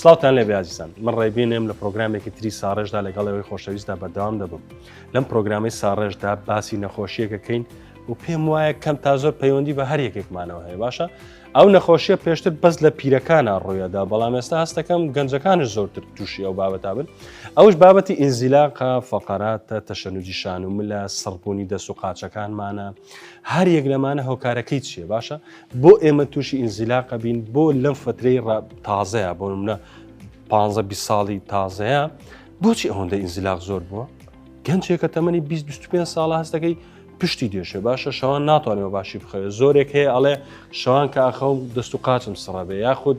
سلااوان لێ بازیزان من ڕێبینێم لە پرۆگرامێکی تری ساڕێژدا لەگەڵ ئەوەی خۆشەویستدا بەردەوام دەبم لەم پرۆگرامی ساڕێژدا باسی نەخۆشیەکەکەین و پێم وایە کەم تا زۆر پەیوەندی بە هەر یەکێکمانەوە هەیە باشە ئەو نەخۆشیە پێشتر بەس لە پیرەکانە ڕوویەدا بەڵام ئێستا هەستەکەم گەنجەکانش زۆرتر تووشی ئەو بابەتا بن ئەوش بابەتی ئینزیلاقا فەقەراتە تەشەنوجی شان و ملە سڕبوونی دەست و قاچەکانمانە هەر یەک لەمانە هۆکارەکەی چیە باشە بۆ ئێمە تووشی ئینزیلاقە بین بۆ لەم فترەی ڕاب تازەیە بۆ منە پ بی ساڵی تازەیە بۆچی ئەوەندە ئینزیلاق زۆر بووە گەنجێکە تەمەنی 25 ساڵ هەستەکەی پشتی دێشێ باشە شەوان ناتوانێەوە باشی بخەوێت زۆرێک هەیە ئەڵێ شەوان کە ئاخەوم دەست و قاچم سڕەبێ یاخود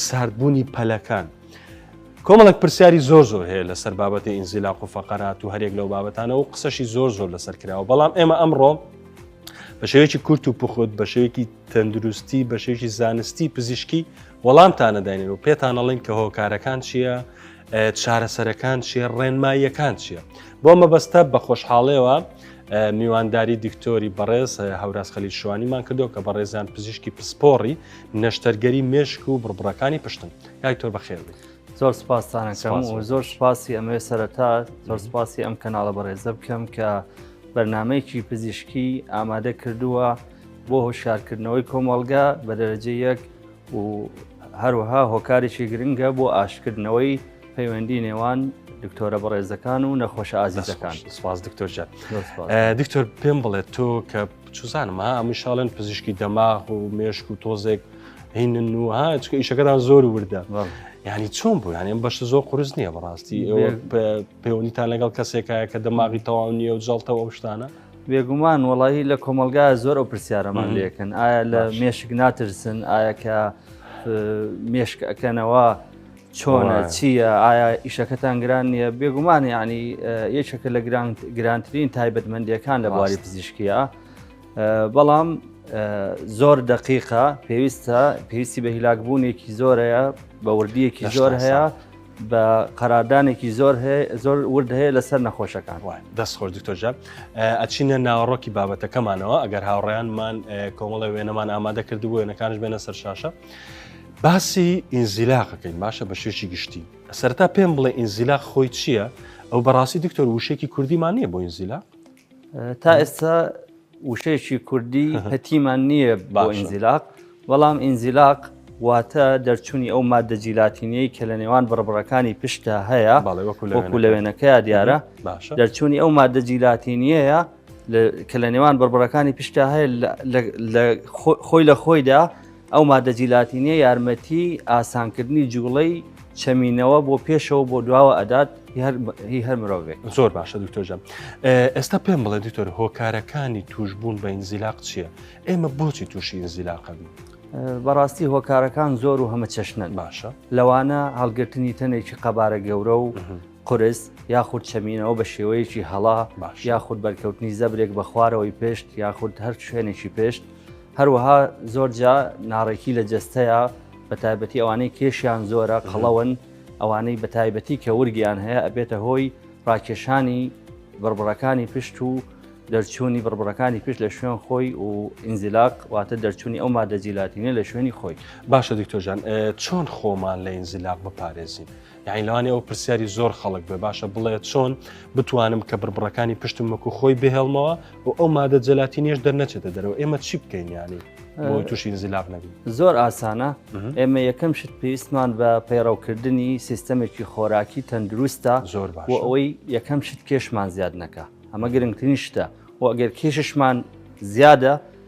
ساردبوونی پەلەکان. کۆمەڵک پرسیاری زۆر زۆر هەیە لەسەر بابەتی ئینزیلاق و فەقەرات و هەرێک لەو بابەتانە و قسەشی زۆر زۆر لەسەر کراوە بەڵام ئێمە ئەمڕۆ بە شێوەیەکی کورت و پخوت بە شێوەیەکی تەندروستی بە شێوەیەکی زانستی پزیشکی وەڵامتانەداینێن و پێتانەڵین کە هۆکارەکان چییە چارەسەرەکان چیە ڕێنماییەکان چییە بۆ مەبەستە بە خۆشحاڵەوە میوانداری دکتۆری بەڕێز هەوراز خەلی شوانیمان کردو کە بەڕێزان پزیشکی پسپۆڕی نەشتەرگەری مێشک و بڕبڕەکانی پشتن یاکتۆر بەخێنێت. زۆر سپاستانەکەم و زۆر سپاسی ئەمەوێ سەرەتا زۆر سپاسی ئەم کەناڵە بەڕێزە بکەم کە بەرنمەیەکی پزیشکی ئامادە کردووە بۆ هۆشارکردنەوەی کۆمەڵگا بە دەرەجە یەک و هەروەها هۆکارێکی گرنگە بۆ ئاشکردنەوەی پەیوەندی نێوان دکتۆرە بەڕێزەکان و نەخۆش ئازیزەکان سپاس دکتۆر جان دکتۆر پێم بڵێت تۆ کە چزانمە ئەمیشاڵێن پزیشکی دەماغ و مێشک و تۆزێک هینن و ها چکە ئیشەکەتان زۆر وردە ینی چۆن بوو یانیم بەش زۆر قرس نییە بەڕاستی ئێوە پەیوەنیتان لەگەڵ کەسێکایە کە دەماغی تەواو نییە و جڵتەوە ئەو شتانە بێگومان وڵی لە کۆمەلگا زۆر ئەو پرسیارەمان لەکەن ئایا لە مێشک ناترسن ئایا کە مێشک ئەەکەنەوە چۆنە چییە ئایا ئیشەکەتان گران نییە بێگومان ینی یەکێکە لە گرانترین تایبەتمەندیەکان لە بواری پزیشکیە. بەڵام زۆر دقیقە پێویستە پێویستی بە هیلاکبوونێکی زۆرەیە بە وردیەکی زۆر هەیە بە قەرادانێکی زۆر هەیە زۆر ورد هەیە لەسەر نەخۆشەکان وای دەست خۆش دکتۆرجان ئەچینە ناوەڕۆکی بابەتەکەمانەوە ئەگەر هاوڕێیانمان کۆمەڵی وێنەمان ئامادە کردو بۆ وێنەکانش بێنە سەر شاشە باسی ئینزیلاقەکەین باشە بە شێکی گشتی سەرتا پێم بڵێ ئینزیلاق خۆی چییە؟ ئەو بەڕاستی دکتۆر وشێکی کوردیمان نییە بۆ ئینزیلا تا ئێستا وشەیەکی کوردی هەتیمان نییە بۆ ئینزیلاق، بەڵام ئینزیلاق واتە دەرچوونی ئەو ماددە جیلاتینەی کە لە نێوان بڕبڕەکانی پشتدا هەیە وەکو لەوێنەکەیا دیارە دەرچوونی ئەو ماددە جیلاتینیەیە کە لە نێوان بڕبڕەکانی پشتدا هەیە خۆی لە خۆیدا ئەو ماددە جیلاتینیە یارمەتی ئاسانکردنی جوڵەی چەمینەوە بۆ پێشەوە بۆ دواوە ئەدات هی هەر مرۆڤێک زۆر باشە دکتۆژە ئێستا پێم بڵێ دکتۆر هۆکارەکانی توشببوون بە ئینزیلاق چییە؟ ئێمە بۆچی تووشی ئینزیلاقە بین؟ بەڕاستی هۆکارەکان زۆر و هەمە چەشنن باشە لەوانە هەڵگرتنی تەنێکی قەبارە گەورە و قورس یاخود چەمینەوە بە شێوەیەکی هەڵا یاخود بەرکەوتنی زەبرێک بە خوارەوەی پێشت یاخود هەر شوێنێکی پێشت هەروەها زۆرجا ناڕێکی لە جستەیە بە تایبەتی ئەوانەی کێشیان زۆرە قەڵەوەن ئەوانەی بە تایبەتی کە ورگیان هەیە ئەبێتە هۆی ڕاکێشانی بڕبڕەکانی پشت و دەرچوونی بڕبڕەکانی پشت لە شوێن خۆی و ئینزیلاق واتە دەرچوونی ئەو مادەجیلاتینە لە شوێنی خۆی باشە دکتۆژان چۆن خۆمان لە ئینزیلاق بپارێزین یانی لەوانی ئەو پرسیاری زۆر خەڵک بێ باشە بڵێت چۆن بتوانم کە بڕبڕەکانی پشتم وەکو خۆی بهێڵمەوە و ئەو مادە جەلاتی نێش دەرنەچێتە دەرەوە ئێمە چی بکەین ینی بۆی تووشی زیلاف نەبی زۆر ئاسانە ئێمە یەکەم شت پێویستمان بە پەیڕەوکردنی سیستەمێکی خۆراکی تەندروستە زۆر بۆ ئەوەی یەکەم شت کێشمان زیاد نەکە ئەمە گرنگترین شتە و ئەگەر کێششمان زیادە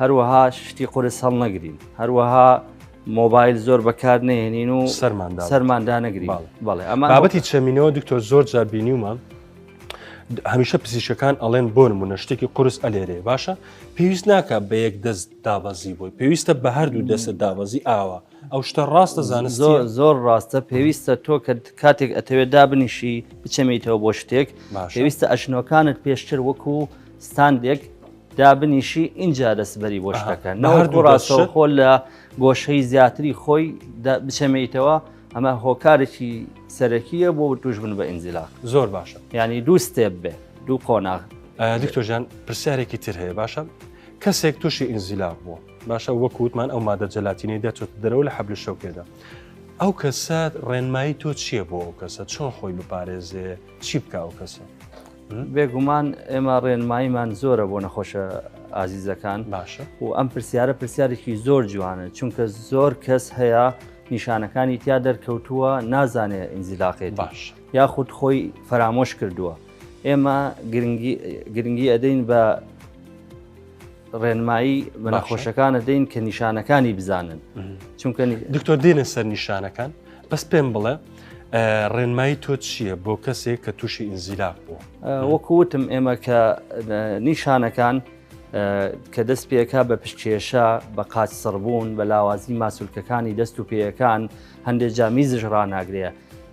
هەروەها شتی قورس هەڵنەگرین هەروەها مۆبایل زۆر بەکار نێنین و سەرماندا سەرماندا نەگری بەڵێ ئەمە بابەتی چەمینەوە دکتۆر زۆر جاربینیومە هەمیشە پزیشەکان ئەڵێن بۆ نمونە شتێکی قرس ئەلێرێ باشە پێویست ناکە بە یەک دەست دابەزی بۆی پێویستە بە هەردوو دەستە دابەزی ئاوە ئەو شتە ڕاستە زانست زۆر زۆر ڕاستە پێویستە تۆ کە کاتێک ئەتەوێت دابنیشی بچەمیتەوە بۆ شتێک پێویستە ئەشنۆکانت پێشتر وەکو ستاندێک دابنیشی ئینجا دەستبەری بۆ شتەکە نەهردوو ڕاستەوە خۆل لە گۆشەی زیاتری خۆی بچەمەیتەوە ئەمە هۆکارێکی سەرەکیە بۆ توش بن بە ئینجلا زۆر باشە ینی دوو ستێپ بێ دوو قۆناغ دکتۆژان پرسیارێکی تر هەیە باشە کەسێک تووشی ئینزیلا بووە باشە وەکووتمان ئەو مادە جەلاتینەی دەچێت دەرەوە لە حەبل شەوکێدا ئەو کەسە ڕێنمایی تۆ چییە بۆ ئەو کەسە چۆن خۆی بپارێزێ چی بکە ئەو کەسە بێگومان ئێمە ڕێنماییمان زۆرە بۆ نەخۆشە ئازیزەکان باشە و ئەم پرسیارە پرسیارێکی زۆر جوانە چونکە زۆر کەس هەیە نیشانەکانی تیا دەرکەوتووە نازانێت ئینزیلاقێت باش یاخود خۆی فەرامۆش کردووە ئێمە گرنگی ئەدەین بە ڕێنمایی بە نەخۆشەکانە دەین کە نیشانەکانی بزانن چونکە دکتۆر دێنە سەر نیشانەکان بەس پێم بڵێ ڕێنمایی تۆ چییە بۆ کەسێک کە تووشی ئینزیلاق بوو وەکوتم ئێمە کە نیشانەکان کە دەست پێەکە بە پشکێشە بە قاچ سڕبوون بە لاوازی ماسولکەکانی دەست و پێیەکان هەندێک جامیزش ڕناگرێ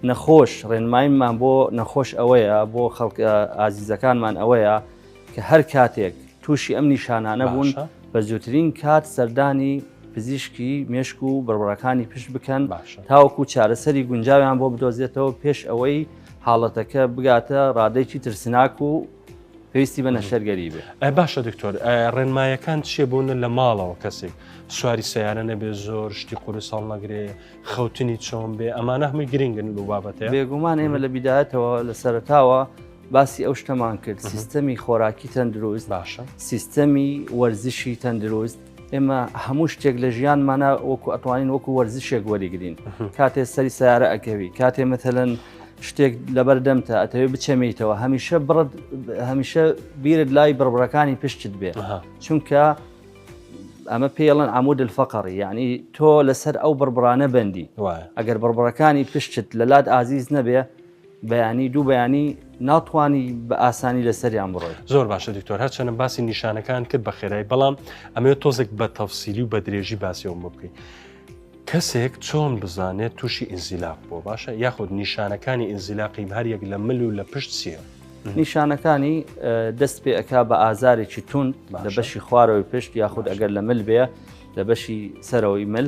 نەخۆش ڕێنمایمان بۆ نەخۆش ئەوەیە بۆ خەڵک ئازیزەکانمان ئەوەیە کە هەر کاتێک تووشی ئەم نیشانانە بوون بە زووترین کات سەردانی پزیشکی مێشک و بڕبڕەکانی پشت بکەن تاوەکو چارەسەری گونجاویان بۆ بدۆزێتەوە پێش ئەوەی حاڵەتەکە بگاتە ڕادێکی ترسناک و پێویستی بە نەشەرگەری بێ ئە باشە دکتۆر ڕێنمایەکان چێ بوونە لە ماڵەوە کەسێک سواری سیارە نەبێ زۆر شتی قوری ساڵ نەگرێ خەوتنی چۆن بێ ئەمانە هەمووی گرنگن و بابەتە بێگومان ئێمە لە بیداەتەوە لە سەرتاوە باسی ئەو شتەمان کرد سیستەمی خۆراکی تەندروست باشە سیستەمی وەرزشی تەندروست ئێمە هەموو شتێک لە ژیانمانە وەکو ئەتوانین وەکو وەرزشێک وەریگرین کاتێ سەری سیارە ئەکەوی کاتێ مەتەلەن شتێک لەبەر دەمتە ئەتەوێ بچەمیتەوە هەمیشە بڕت هەمیشە بیرت لای بڕبڕەکانی پشتت بێ چونکە ئەمە پێڵەن عمود الفقڕی یعنی تۆ لەسەر ئەو بڕبرانە بەندی ئەگەر بڕبڕەکانی پشتت لە لات ئازیز نەبێ بەیانی دوو بەیانی ناتوانی بە ئاسانی لەسەریان بڕۆی زۆر باشە دکتۆر هەرچەنە باسی نیشانەکان کرد بە خێرای بەڵام ئەمێ تۆزێک بە تەفسیلی و بە درێژی باسیەوە بکەین کەسێک چۆن بزانێت تووشی ئینزیلاق بۆ باشە یاخود نیشانەکانی ئینزیلاقی هەریەک لە مل و لە پشت سیە نیشانەکانی دەست پێ ئەک بە ئازارێکی تون لە بەشی خوارەوەی پشت یاخود ئەگەر لە مل بێ لە بەشی سەرەوەی مل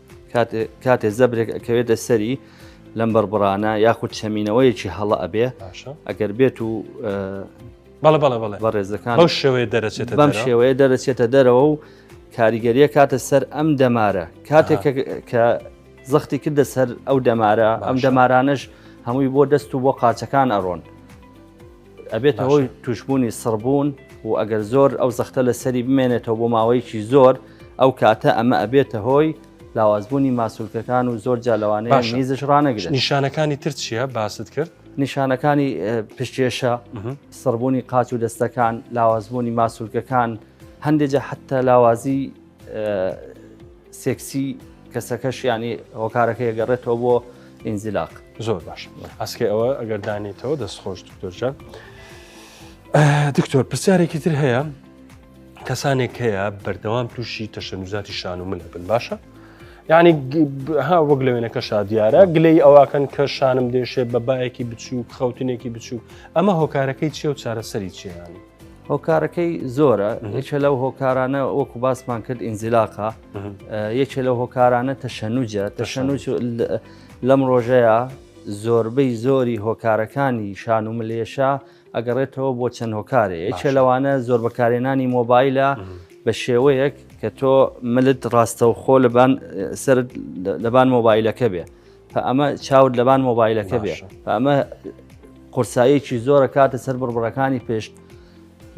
کاتێ زەبرێک ئەکەوێتە سەری لەم بەربڕانە یاخود چەمینەوەیەکی هەڵە ئەبێ ئەگەر بێت و بەڵە بەڵە بەڵێ بە ڕێزەکان ئەو شێوەیە دەرەچێتە بەم شێوەیە دەرەچێتە دەرەوە و کاریگەریە کاتە سەر ئەم دەمارە کاتێک کە زەختی کردە سەر ئەو دەمارە ئەم دەمارانش هەمووی بۆ دەست و بۆ قاچەکان ئەڕۆن ئەبێتە هۆی توشبوونی سڕبوون و ئەگەر زۆر ئەو زەختە لە سەری بمێنێتەوە بۆ ماوەیەکی زۆر ئەو کاتە ئەمە ئەبێتە هۆی لاوازبوونی ماسولکەکان و زۆر جالەوانەیە نیزش ڕانەگرێت نیشانەکانی تر چییە باست کرد نیشانەکانی پشتێشە سڕبوونی قاچ و دەستەکان لاوازبوونی ماسولکەکان هەندێجە حتا لاوازی سێکسی کەسەکەش ینی هۆکارەکە یەگەڕێتەوە بۆ ئینزیلاق زۆر باش ئەسکە ئەوە ئەگەر دانێتەوە دەست خۆش دکتۆرجان دکتۆر پرسیارێکی تر هەیە کەسانێک هەیە بەردەوام تووشی تەشەنوزاتی شان و منە بن باشە یعنی ها وەک لە وێنەکە شادیارە گلەی ئەوواکەن کە شانم دێشێ بە باەکی بچووک خەوتنێکی بچووک ئەمە هۆکارەکەی چێ و چارەسەری چیانی هۆکارەکەی زۆرە یەکە لەو هۆکارانە وەکو باسمان کرد ئینزیلاقا یەکێ لەو هۆکارانە تەشەنوجە تەشەنوج لەم ڕۆژەیە زۆربەی زۆری هۆکارەکانی شان و ملێشە ئەگەڕێتەوە بۆ چەند هۆکارێ یەکێ لەوانە زۆر بەکارێنانی مۆبایلە بە شێوەیەک کە تۆ ملت ڕاستەوخۆ لەبان سرد لەبان مۆبایلەکە بێ پە ئەمە چاوت لەبان مۆبایلەکە بێ پە ئەمە قورساییەکی زۆرە کاتە سەر بڕبڕەکانی پێشت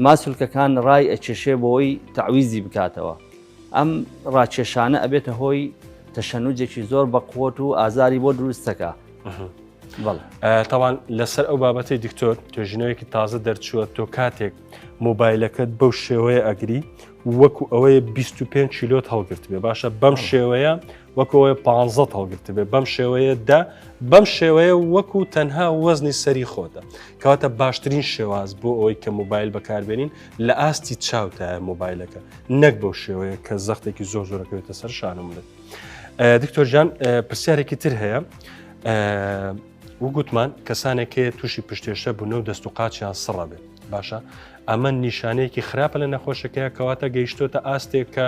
ماسولکەکان ڕای ئەچێشێ بۆی تەعویزی بکاتەوە ئەم ڕاکێشانە ئەبێتە هۆی تەشەنوجێکی زۆر بە قوت و ئازاری بۆ دروستەکە تاوان لەسەر ئەو بابەتی دکتۆر توێژینەوەیەکی تازە دەرچووە تۆ کاتێک مۆبایلەکەت بەو شێوەیە ئەگری وەکو ئەوەیە 25 کیلۆت هەڵگرت بێ باشە بەم شێوەیە وەکەوەێ پ هەڵگرتبێ بەم شێوەیە دە بەم شێوەیە وەکو تەنها وەزنی سەری خۆتە کەواتە باشترین شێواز بۆ ئەوەی کە موبایل بەکاربێنین لە ئاستی چاوتایە موبایلەکە نەک بەو شێوەیە کە زەختێکی زۆر زۆرەکەوێتە سەر شانم بێت دکتۆرجان پرسیارێکی تر هەیە وگوتمان کەسانێک هەیە تووشی پشتێشە بوونە و دەست و قاچیان سڕە بێت باشە ئەمە نیشانەیەکی خراپە لە نەخۆشەکەی کەواتە گەیشتۆتە ئاستێک کە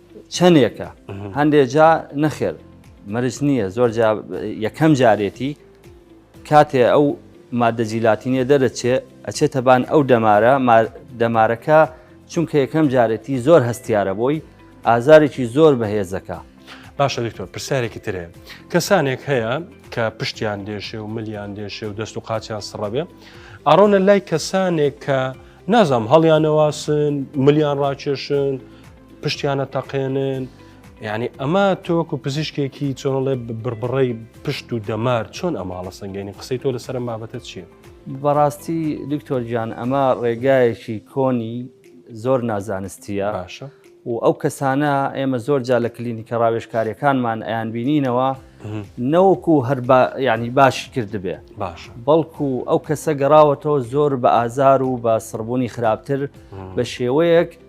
چەندێکە هەندێک جا نەخێر مەرج نییە زۆر یەکەم جارێتی کاتێ ئەو مادە جیلاتینە دەرەچێ ئەچێتە بان ئەو دەمارە دەمارەکە چونکە یەکەم جارێتی زۆر هەستیارە بۆی ئازارێکی زۆر بەهێزەکە باشە دکتۆر پرسیارێکی ترێ کەسانێک هەیە کە پشتیان دێشێ و ملیان دێشێ و دەست و قاچیان سڕەبێ ئارۆنە لای کەسانێک کە نازام هەڵیانەواسن ملیان ڕاکێشن پشتیانە تەقێنن یعنی ئەمە تۆکو پزیشکێکی چۆنڵێ بڕبڕی پشت و دەمار چۆن ئەماڵە سنگێنی قسەی تۆ لەسەر بابەتە چییە؟ بەڕاستی دکتۆر گیان ئەمە ڕێگایەکی کۆنی زۆر نازانستیە باشە و ئەو کەسانە ئێمە زۆر جا لە کلینیکە ڕاوێشکاریەکانمان ئەیان بینینەوە نەوەکو هەر ینی باشی کردبێ باش بەڵکو ئەو کەسە گەڕاوەتەوە زۆر بە ئازار و بە سڕبوونی خراپتر بە شێوەیەک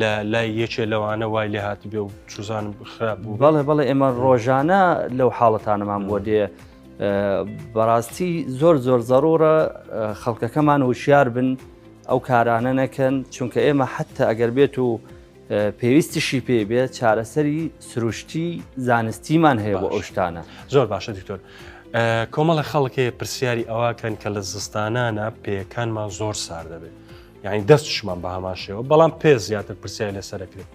لە لای یەکێ لەوانە وای لێ هاتبێ و چوزانم خراپ بوو بەڵێ بەڵێ ئێمە ڕۆژانە لەو حاڵەتانەمان بۆ دێ بەڕاستی زۆر زۆر زەڕۆرە خەڵکەکەمان وشیار بن ئەو کارانە نەکەن چونکە ئێمە حتا ئەگەر بێت و پێویستیشی پێ بێ چارەسەری سروشتی زانستیمان هەیە بۆ ئەو شتانە زۆر باشە دکتۆر. کۆمەڵە خەڵکێ پرسیاری ئەوکەن کە لە زستانانە پێەکانمان زۆر سار دەبێت یعنی دەستشمان بە هەمان شێوە بەڵام پێ زیاتر پرسیای لەسەرکرێت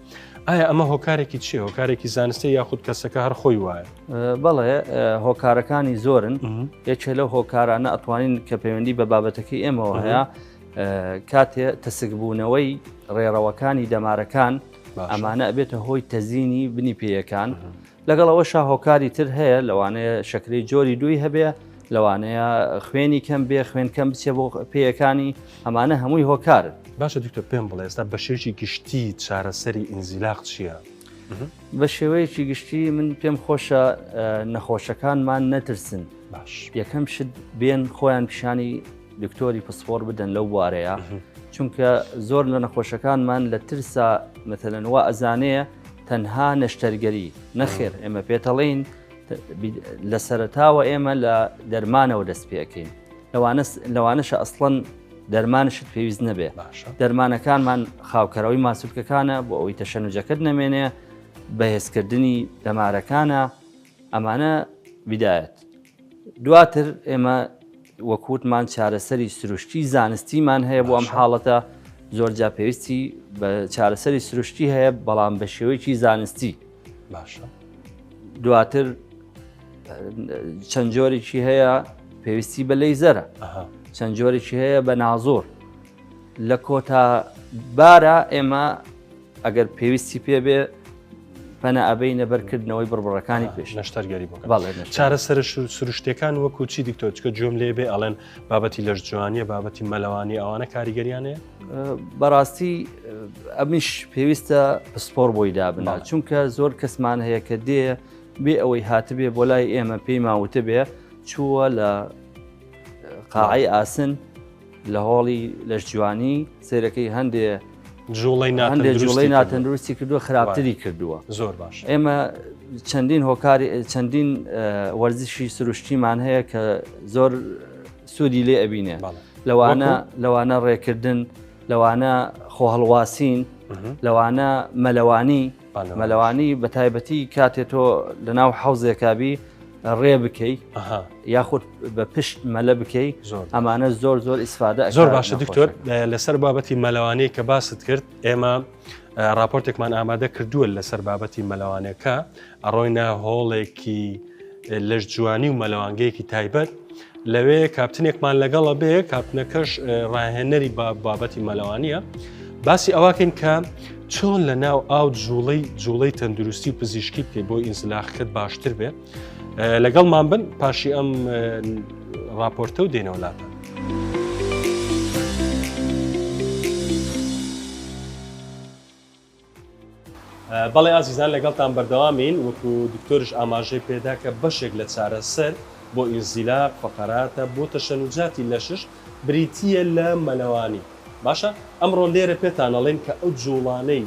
ئایا ئەمە هۆکارێکی چی هۆکارێکی زانستی یاخود کەسەکە هەر خۆی وایە بەڵێ هۆکارەکانی زۆرن یەکێ لەو هۆکارانە ئەتوانین کە پەیوەندی بە بابەتەکەی ئێمەوە هەیە کاتێ تەسکبوونەوەی ڕێڕەوەکانی دەمارەکان ئەمانە ئەبێتە هۆی تەزیینی بنی پێیەکان لەگەڵ ئەوەشا هۆکاری تر هەیە لەوانەیە شەکرەی جۆری دووی هەبێ لەوانەیە خوێنی کەم بێ خوێن کەم بچێ بۆ پێیەکانی ئەمانە هەمووی هۆکارن باشە دکتۆر پێم بڵێ ئێستا بە شێوەیەکی گشتی چارەسەری ئینزیلاق چییە؟ بە شێوەیەکی گشتی من پێم خۆشە نەخۆشەکانمان نەترسن باش یەکەم شت بێن خۆیان پیشانی دکتۆری پسپۆر بدەن لەو بوارەیە چونکە زۆر لە نەخۆشەکانمان لە ترسا مەتەنەوە ئەزانەیە تەنها نەشتەرگەری، نەخێر ئێمە پێتەڵێین لە سەرتاوە ئێمە لە دەرمانەوە دەست پێەکەین لەوانەشە ئەسڵەن دەرمانشت پێویست نەبێ دەرمانەکانمان خاوکەرەوەی ماسولکەکانە بۆ ئەوەی تەشەنوجەکەت نەمێنێ بەهێزکردنی دەمارەکانە ئەمانە بدایەت دواتر ئێمە وەک وتمان چارەسەری سروشتی زانستیمان هەیە بۆ ئەم حاڵەتە زۆرجا پێویستی بە چارەسەری سروشتی هەیە بەڵام بە شێوەیەکی زانستی باشە دواتر چەند جۆرێکی هەیە پێویستی بە لی زەرە چەند جۆرێکی هەیە بە نازۆر لە کۆتا بارە ئێمە ئەگەر پێویستی پێ بێ پەنا ئەبینە بەرکردنەوەی بڕبڕەکانی پێش نەشتەرگەری بۆ چارە سەر سروشتەکان وەکو چی دیکتۆچکە جۆم لێ بێ ئەڵێن بابەتی لەش جوانیە بابەتی مەلەوانی ئەوانە کاریگەریانێ بەڕاستی ئەمیش پێویستە پسپۆر بۆی دابنا چونکە زۆر کەسمان هەیە کە دێ بێ ئەوەی هاتبێ بۆ لای ئێمە پێی ماوتە بێ چووە لە قاعی ئاسن لە هۆڵی لەشجوانی سێرەکەی هەندێ جوڵی جوڵی ناتەندروستی کردووە خراپتری کردووە زۆر باش ئێمە چەندین هۆکاری چەندین وەرزشی سروشتیمان هەیە کە زۆر سوودی لێ ئەبینێ لەوانە لەوانە ڕێکردن لەوانە خۆهڵواسین لەوانە مەلەوانی مەلەوانی بە تایبەتی کاتێ تۆ لە ناو حەوزێکابی ڕێ بکەی یاخود بە پشت مەلە بکەی ئەمانە زۆر زۆر ئیسفادە زۆر باشە دکتۆر لەسەر بابەتی مەلەوانی کە باست کرد ئێمە راپۆرتێکمان ئامادە کردووە لەسەر بابەتی مەلەوانەکە ئەڕۆینە هۆڵێکی لەش جوانی و مەلەوانگەیەکی تایبەت لەوێ کاپتنێکمان لەگەڵە بێ کاپتنەکەش ڕاهێنەری بە بابەتی مەلەوانە باسی ئەواکەین کە چۆن لە ناو ئاو جوڵەی جوڵەی تەندروستی و پزیشکی بکەی بۆ ئینسلاخکەت باشتر بێ لەگەڵمان بن پاشی ئەم راپۆرتە و دێنەوەلاتە بەڵێ ئازیزان لەگەڵتان بەردەوامین وەکو دکتۆرش ئاماژەی پێدا کە بەشێک لە چارەسەر بۆ ئینزیلاق فەقەراتە بۆ تەشەنوجاتی لەشش بریتییە لە مەلەوانی باشە ئەمڕۆ لێرە پێتان ئەڵێن کە ئەو جوڵانەی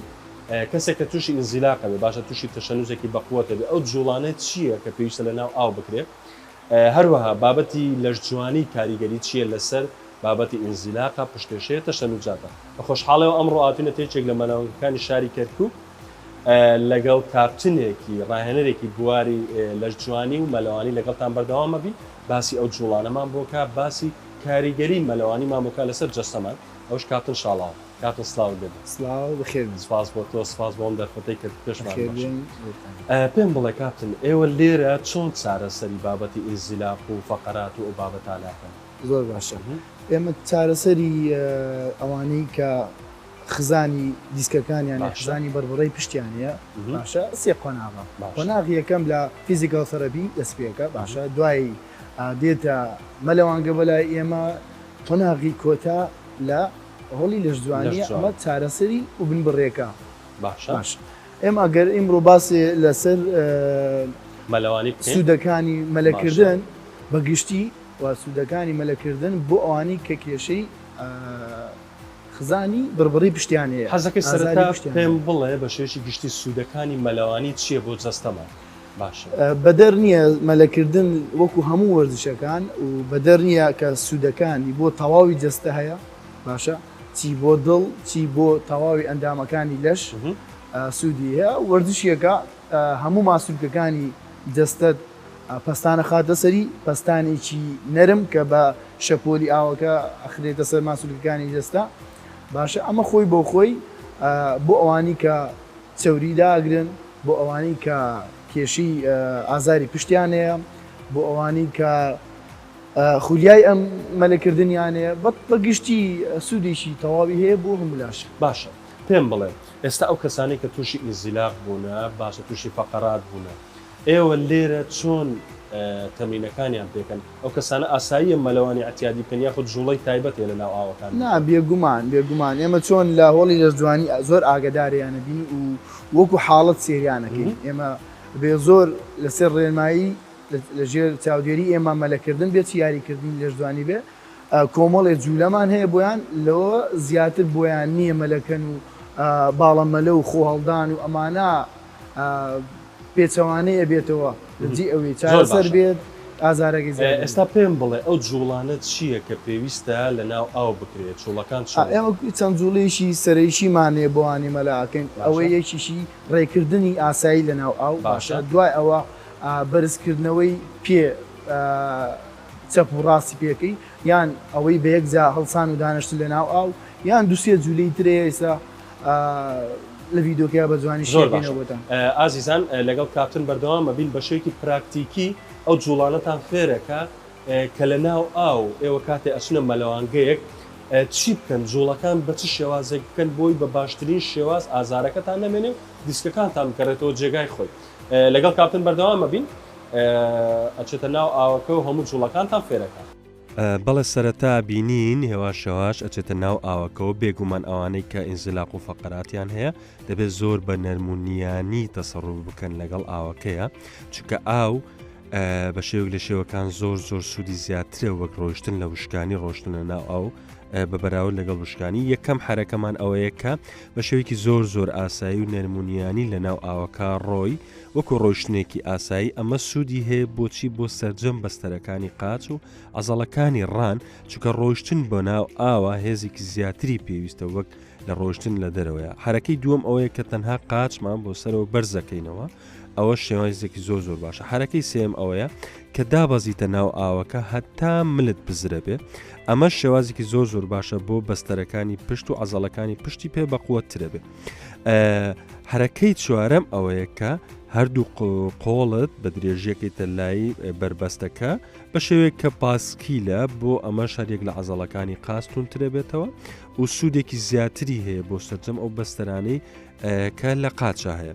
کەسێک کە تووشی ئینزیلاقە بێ باشە تووشی تەشەنوجێکی بەقوەتە بێ ئەو جوڵانە چییە کە پێویستە لە ناو ئاو بکرێت هەروەها بابەتی لەشجوانی کاریگەری چیە لەسەر بابەتی ئینزیلاقە، پشتێشەیە، تەشەنوجاتە. بە خۆشحاڵیەوە ئەمڕۆ هاتوینەتە یەکێک لە مەناونگەکانی شاری کەرکوک لەگەڵ کاپتنێکی ڕاهێنەرێکی بواری لەشجوانی و مەلەوانی لەگەڵتان بەردەوام ئەبین باسی ئەو جوڵانەمان بۆکا باسی کاریگەری مەلەوانیمان بۆکا لەسەر جەستەمان ئەوش کاپتن شاڵاوە. کاکە سلاو بێت سلاو بخێر بێت سپاس بۆ تۆ سپاس بۆ ئەم دەرفەتەی کە پێشمان بخێر بێن بۆتان ئە، پێم بڵێ کاپتن ئێوە لێرە چۆن چارەسەری بابەتی ئینزیلاق و فەقەرات و ئەو بابەتانە ئەکەن؟ زۆر باشە ئێمە چارەسەری ئەوانەی کە خزانی دیسکەکانیان یان خزانی بەربڕەی پشتیان هەیە باشە سێ قۆناغە قۆناغی یەکەم لە فیزیکاڵ سەرەپی دەست پێ ئەکا باشە دوایی دێتە مەلەوانگە بەلای ئێمە قۆناغی کۆتا لە هۆڵی لەشجوانیە ئەمە چارەسەری و بن بڕێکە باشە ئێمە گەر ئیمڕۆ باسێ لەسەر مەلەوانی بکەین سودەکانی مەلەکردن بە گشتی و سودەکانی مەلەکردن بۆ ئەوانی کە کێشەی خزانی بڕبڕی پشتیان هەیە حەزەکەی سەرەتا پێم بڵێ بە شێوەیەکی گشتی سودەکانی مەلەوانی چیە بۆ جەستەمان؟ باشە. بەدەر نییە مەلەکردن وەکو هەموو وەرزشەکان و بەدەر نییە کە سوودەکانی بۆ تەواوی جەستە هەیە باشە چی بۆ دڵ چی بۆ تەواوی ئەندامەکانی لەش سوودی هەیە وەرزشیەکە هەموو ماسولکەکانی جەستەت پەستانە خاتە سەری پەستانێکی نەرم کە بە شەپۆلی ئاوەکە ئەخرێتە سەر ماسولکەکانی جەستە باشە ئەمە خۆی بۆ خۆی بۆ ئەوانی کە چەوری داگرن بۆ ئەوانەی کە کێشەی ئازاری پشتیان هەیە، بۆ ئەوانەی کە خولیای ئەم مەلەکردنیان هەیە، بە گشتی سوودێکی تەواوی هەیە بۆ هەموو لاشێک. باشە پێم بڵێ ئێستا ئەو کەسانەی کە تووشی ئینزیلاق بوونە، باشە تووشی فەقەرات بوونە، ئێوە لێرە چۆن تەمرینەکانیان پێکەن؟ ئەو کەسانە ئاساییە مەلەوانی عەتیادی بکەن یاخود جوڵەی تایبەت هەیە لەناو ئاوەکان نا بکەن؟ بێگومان بێگومان ئێمە چۆن لە هۆڵی لەشجوانی زۆر ئاگەدارێیان ئەبین و وەکو حاڵەت سێریان ئەکەین ئێمە بێ زۆر لەسەر ڕێنمایی لە ژێر چاودێری ئێمە مەلە کردن بێ چ یاری کردنی لەشجوانی بێ کۆمەڵێ جولەمان هەیە بۆیان لەوە زیاتر بۆیان نییە مەلەکەن و باڵە مەلە و خۆ هەڵدان و ئەمانە پێچەوانەی ئەبێتەوە لەجی ئەوی چارەسەر بێت ئازارەکەی زیاد دەبێت. ئێستا پێم بڵێ ئەو جوڵانە چییە کە پێویستە لەناو ئاو بکرێت چوڵەکان چۆن ئەکرێت؟ ئێمە چەند جوڵەیەکی سەرەیشیمان هەیە بۆانی مەلا ئەکەین ئەوەی یەکیشی ڕێکردنی ئاسایی لەناو ئاو باشە دوای ئەوە بەرزکردنەوەی پێ چەپ و ڕاستی پێکەی یان ئەوەی بەیەکجا هەڵسان و دانیشتن لەناو ئاو یان دوسێ جولەی ترەیە ئێستا لە ڤیدۆکەیا بە جوانی زۆر باشە بۆتان ئازیزان لەگەڵ کاپتن بەردەوام مەبین بە شێوەیەکی پراکتیکی ئەو جوڵانەتان فێرەکە کە لە ناو ئاو ئێوە کاتێ ئەچنە مەلەوانگەیەک چی بکەن جوڵەکان بە چ شێوازێک بکەن بۆی بە باشترین شێواز ئازارەکەتان نەمێنێ و دیسکەکانتان بگەڕێتەوە جێگای خۆی لەگەڵ کاپتن بەردەوام مەبین ئەچێتە ناو ئاوەکە و هەموو جوڵەکانتان فێرەکە بەڵێ سەرەتا بینین هێواش هێواش ئەچێتە ناو ئاوەکەەوە بێگومان ئەوانەی کە ئینزلاق و فەقەراتیان هەیە دەبێت زۆر بە نەرمونیانی تەسەڕوو بکەن لەگەڵ ئاوەکەیە چکە ئاو بە شێوک لە شێوەکان زۆر زۆر سوودی زیاترە وەک ڕۆشتن لە وشکانی ڕۆشتنە ناو ئاو بە بەراورد لەگەڵ وشکانی یەکەم حرەکەمان ئەوەیە کە بە شێوکی زۆر زۆر ئاسایی و نەرمونیانی لە ناو ئاوەکە ڕۆی وەکو ڕۆیشتنێکی ئاسایی ئەمە سوودی هەیە بۆچی بۆ سەرجەم بەستەرەکانی قاچ و عەزەڵەکانی ڕان چونکە ڕۆیشتن بۆ ناو ئاوە هێزێکی زیاتری پێویستە وەک لە ڕۆیشتن لە دەرەوەیە حەرەکەی دووەم ئەوەیە کە تەنها قاچمان بۆ سەرەوە بەرزەکەینەوە ئەوە شێوازێکی زۆر زۆر باشە حرەکەی سێم ئەوەیە کە دابەزیتە ناو ئاوەکە هەتا ملت بزرە بێ ئەمە شێوازێکی زۆر زۆر باشە بۆ بەستەرەکانی پشت و عزەڵەکانی پشتی پێ بەقوە ترە بێت حرەکەی چوارەم ئەوەیە کە هەردوو قۆڵت بە درێژیەکەی تەلایی بەربەستەکە بە شێوەیە کە پاسکیلە بۆ ئەمە شارێک لە عزەڵەکانی قاستون ترەبێتەوە و سوودێکی زیاتری هەیە بۆ سەررجەم ئەو بەستەرانەی کە لە قاچە هەیە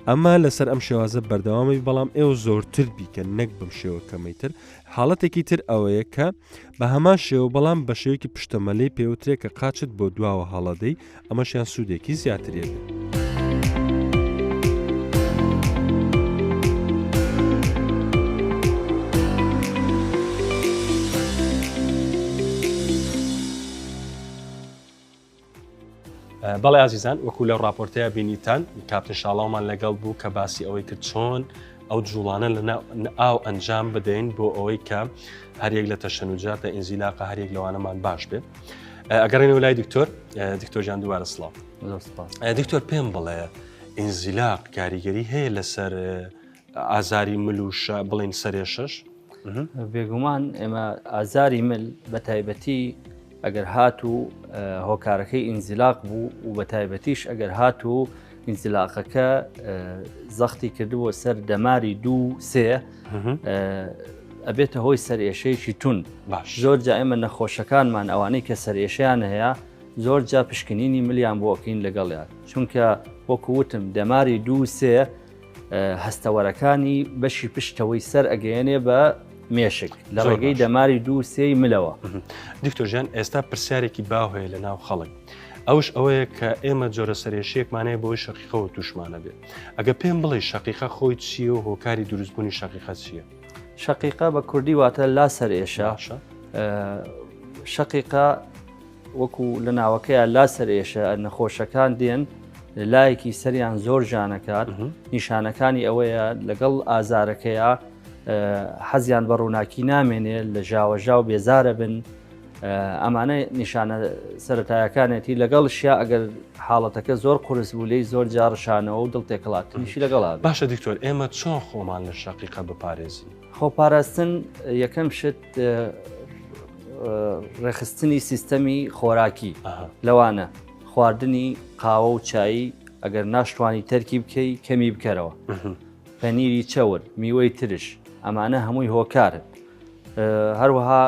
ئەمە لەسەر ئەم شێوازە بەردەوامی بەڵام ئێوە زۆرتر بیکە نەک بم شێوە کەمەی تر حاڵەتێکی تر ئەوەیە کە بە هەمان شێوە بەڵام بە شێوکی پشتەمەلەی پێوترێک کە قاچت بۆ دواوە هەڵەدەی ئەمەشیان سوودێکی زیاتر یەگرت. بەڵێ ئازیزان وەکو لەو ڕاپۆرتەیە بینیتان کاپتن شاڵاومان لەگەڵ بوو کە باسی ئەوەی کرد چۆن ئەو جوڵانە لە ئاو ئەنجام بدەین بۆ ئەوەی کە هەرێک لە تەشەنوجاتە ئینزیلاقە هەرێک لەوانەمان باش بێت ئەگەڕێنەوە لای دکتۆر دکتۆرجان دووارە سلااو دکتۆر پێم بڵێ ئینزیلاق کاریگەری هەیە لەسەر ئازاری مل و بڵین سەرێ شش بێگومان ئێمە ئازاری مل بە تایبەتی ئەگەر هاتوو هۆکارەکەی ئینزیلاق بوو و بە تایبەتیش ئەگەر هاتوو ئینزیلاقەکە زەختی کردبووە سەر دەماری دوو سێ ئەبێتە هۆی سەرێشەیەکی تون باش زۆر جا ئێمە نەخۆشەکانمان ئەوانەی کە سەرێشیان هەیە زۆر جا پشکنینی ملیان بۆکەین لەگەڵیان چونکە وەکووتم دەماری دوو سێ هەستەوەرەکانی بەشی پشتەوەی سەر ئەگەیەنێ بە مێشک لە ڕێگەی دەماری دوو سێی ملەوە دکتۆژیان ئێستا پرسیارێکی باو هەیە لە ناو خەڵک ئەوش ئەوەیە کە ئێمە جۆرە سەرێشیەکمانەیە بۆی شەقیقەوە توشمانە بێت ئەگە پێم بڵێ شەقیقە خۆی چیە و هۆکاری دروستبوونی شەقیقە چیە شەقیقە بە کوردی واتە لا سەرێشە شەقیقە وەکو لە ناوەکەیان لا سەرێشە نەخۆشەکان دێن لایەکی سەریان زۆر جانەکات نیشانەکانی ئەوەیە لەگەڵ ئازارەکەیە حەزیان بە ڕووناکی نامێنێ لە ژاوەژا و بێزارە بن ئەمانە نیشانە سەتایەکانێتی لەگەڵ شیا ئەگەر حاڵەتەکە زۆر قرس بوو لی زۆر جاڕشانەوە و دڵ تێکڵاتنیشی لەگەڵا باشە دکتۆر ئێمە چۆن خۆمان لە شقیقە بپارێزین خۆپاراستن یەکەم شت ڕێخستنی سیستەمی خۆراکی لەوانە خواردنی قاوە و چایی ئەگەر ناشتوانی تەرکی بکەی کەمی بکەرەوە پەنیری چەور میوەی ترش ئەمانە هەمووی هۆکارن هەروەها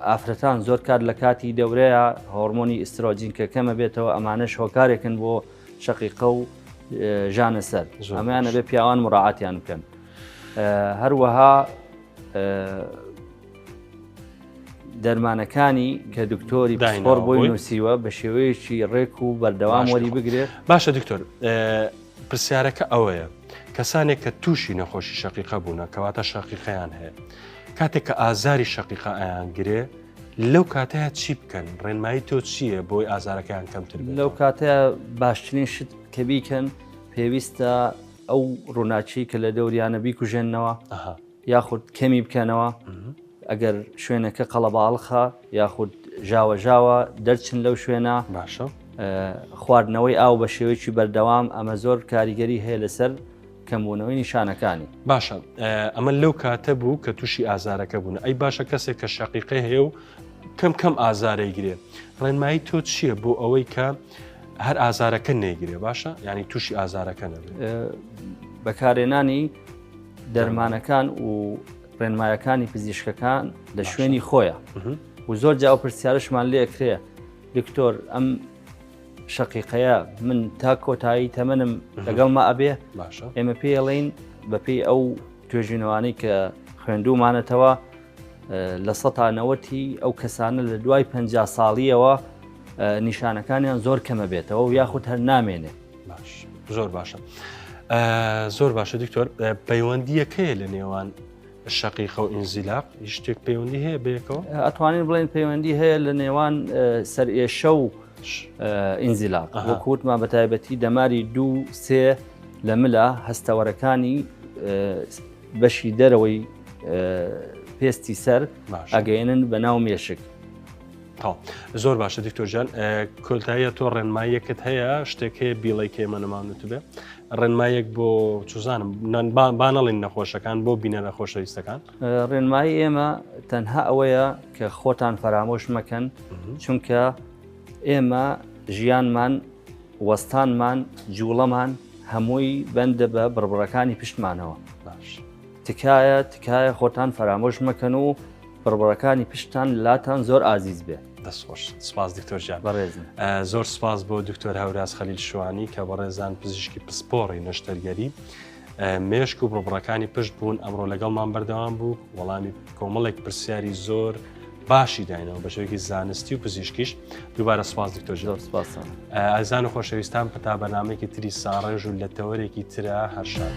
ئافرەتان زۆر کات لە کاتی دەورەیە هۆرمۆنی ئیسترۆجین کە کەمە بێتەوە ئەمانەش هۆکارێکن بۆ شقیقە و ژانە سەر ئەمانە بێ پیاوان مڕعاتیان بکەن هەروەها دەرمانەکانی کە دکتۆری پسپۆر بۆی نووسیوە بە شێوەیەکی ڕێک و بەردەوام وەری بگرێت باشە دکتۆر پرسیارەکە ئەوەیە کەسانێک کە تووشی نەخۆشی شقیقە بوونە کەواتە شقیقەیان هەیە کاتێک کە ئازاری شقیقە ئایان گرێ لەو کاتەیە چی بکەن ڕێنمایی تۆ چییە بۆی ئازارەکەیان کەمتر لەو کاتەیە باشترین شت کە بیکەن پێویستە ئەو ڕووناکیەی کە لە دەوریانە بیکوژێننەوە یاخود کەمی بکەنەوە ئەگەر شوێنەکە قەڵەباڵخە یاخود ژاوەژاوە دەرچن لەو شوێنە باشە خواردنەوەی ئاو بە شێوەیەکی بەردەوام ئەمە زۆر کاریگەری هەیە لەسەر کەمبوونەوەی نیشانەکانی باشە ئەمە لەو کاتە بوو کە تووشی ئازارەکە بوون ئەی باشە کەسێک کە شەقیقە هەیە و کەم کەم ئازارەی گرێ ڕێنمایی تۆ چییە بۆ ئەوەی کە هەر ئازارەکە نەیگرێ باشە ینی تووشی ئازارەکە نەبێت بەکارێنانی دەرمانەکان و ڕێنمایەکانی پزیشکەکان لە شوێنی خۆیە و زۆر جا و پرسیارشمان لێکرێ دکتۆر ئەم شقیقەیە من تا کۆتایی تەمەنم لەگەڵ ما ئەبێ ئێمە پێڵین بەپی ئەو توێژینەوانی کە خوێندومانەتەوە لە سەتا نەوەتی ئەو کەسانە لە دوای پ ساڵیەوە نیشانەکانیان زۆر کەمە بێتەوە و یاخود هەر نامێنێ زۆر باشە زۆر باشە دکتۆر پەیوەندیەکەیە لە نێوان شقیقە و ئینزیلاق شتێک پەیوەندی هەیە بێکەوە ئەتوانین بڵێن پەیوەندی هەیە لە نێوان سەرئێشە و ئینزیلاق وەکووتمان بە تایبەتی دەماری دوو سێ لە ملا هەستەوەرەکانی بەشی دەرەوەی پێستی سەر ئەگەێنن بە ناو مێشک زۆر باشە دیکتۆژان کۆلتاییە تۆ ڕێنماییەکت هەیە شتێک هەیە بیڵی کێمە نەماونت بێ ڕێنمایەک بۆ چزانم بانەڵین نەخۆشەکان بۆ بینە لە خۆشەویستەکان ڕێنمایی ئێمە تەنها ئەوەیە کە خۆتان فەرامۆش مەکەن چونکە ئێمە ژیانمان وەستانمان، جوڵەمان هەمووی بەندە بە بڕبڕەکانی پشتمانەوە. باش. تکایە تکایە خۆتان فەرامۆش مەکەن و بڕبڕەکانی پشتتان لاتان زۆر ئازیز بێت. دەست خۆش. سپاس دکتۆر گیان. بەڕێزم. زۆر سپاس بۆ دکتۆر هەوراز خەلیل شوانی کە بەڕێزان پزیشکی پسپۆڕی نەشتەرگەری. مێشک و بڕبڕەکانی پشت بوون ئەمڕۆ لەگەڵمان بەردەوام بوو وەڵامی کۆمەڵێک پرسیاری زۆر باشی داینەوە بەشێکی زانستی و پزیشکیش دووبارە سپاس دکتۆر زۆر سپاسان ئازان و خۆشەویستان پتا بەنامێکی تری ساڕێژ و لە تەوەرێکی ترە هەرشاد.